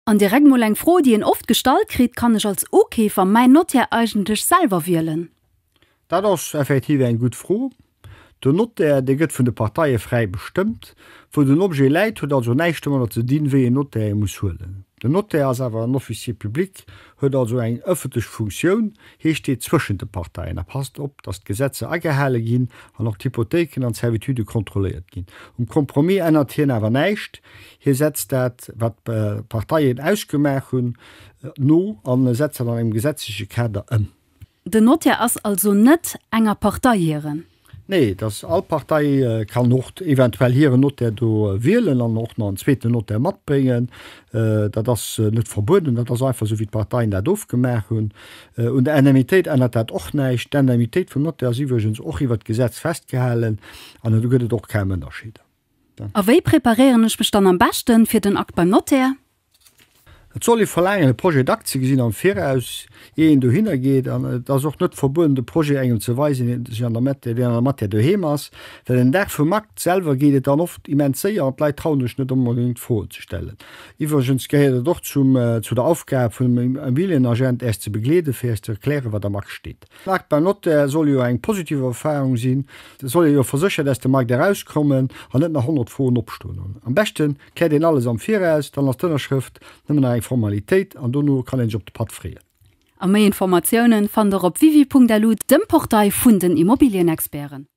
An direkt mol eng Fro déi een oft gestallt kritt, Kann ech als Ukeefer mäin Notaire eigentlech selwer wielen? Dat ass effektiv eng gutt Fro. Den Notaire, dee gëtt vun de Parteie fräi bestëmmt. Wou den Objet läit, huet also näischt domadder ze dinn, wéi een Notaire ee muss huelen. Den Notaire ass awer en Officier public, huet also eng ëffentlech Funktioun, hie steet zwëschent de Parteien a passt op, datt d'Gesetzer agehale ginn an och d'Hypothéiken an d'Servitudë kontrolléiert ginn. Um Compromis ännert hien awer näischt, Hie setzt dat, wat d'Parteien ausgemaach hunn, no a setzt dat an engem gesetzleche Kader ëm. Den Notaire ass also net enger Partei hiren? Nee, et ass, all Partei kann och eventuell hiren Notaire do wielen an och nach en zweeten Notaire matbréngen. Dat ass net verbueden. Dat ass einfach esou, wéi d'Parteien dat ofgemaach hunn. Un der Indemnitéit ännert dat och näischt. D'Indemnitéit vum Notaire ass iwwregens och iwwert d'Gesetz festgehalen an do gëtt et och kaum Ënnerscheeder. A wéi preparéieren ech mech dann am beschten fir den Akt beim Notaire? Et soll ee verlaangen e Projet d'acte ze gesinn am Viraus ier een dohinner geet an et ass och net verbueden de Projet engem ze weisen deen sech an der Matière, deen an der Matière doheem ass, well den Dag vum Akt selwer geet et dann oft immens séier an d'Leit trauen sech net onbedéngt Froen ze stellen. Iwwregens gehéiert et och zum, zu der Aufgab vun engem Immobilienagent, Äech ze begleeden fir Äech ze erklären wat am Akt steet. D'Mark beim Notaire soll jo eng positiv Erfahrung sinn. Et soll ee jo verséchert aus dem Markt erauskommen an net nach 100 Froen opstoen hunn. Am beschte kläert een alles am Viraus, dann ass d'Ënnerschrëft nëmmen nach eng Formalitéit an dono kann een sech op de Patt freeën. A méi Informatiounen fannt der op www.lu, dem Portail vun den Immobilienexperten.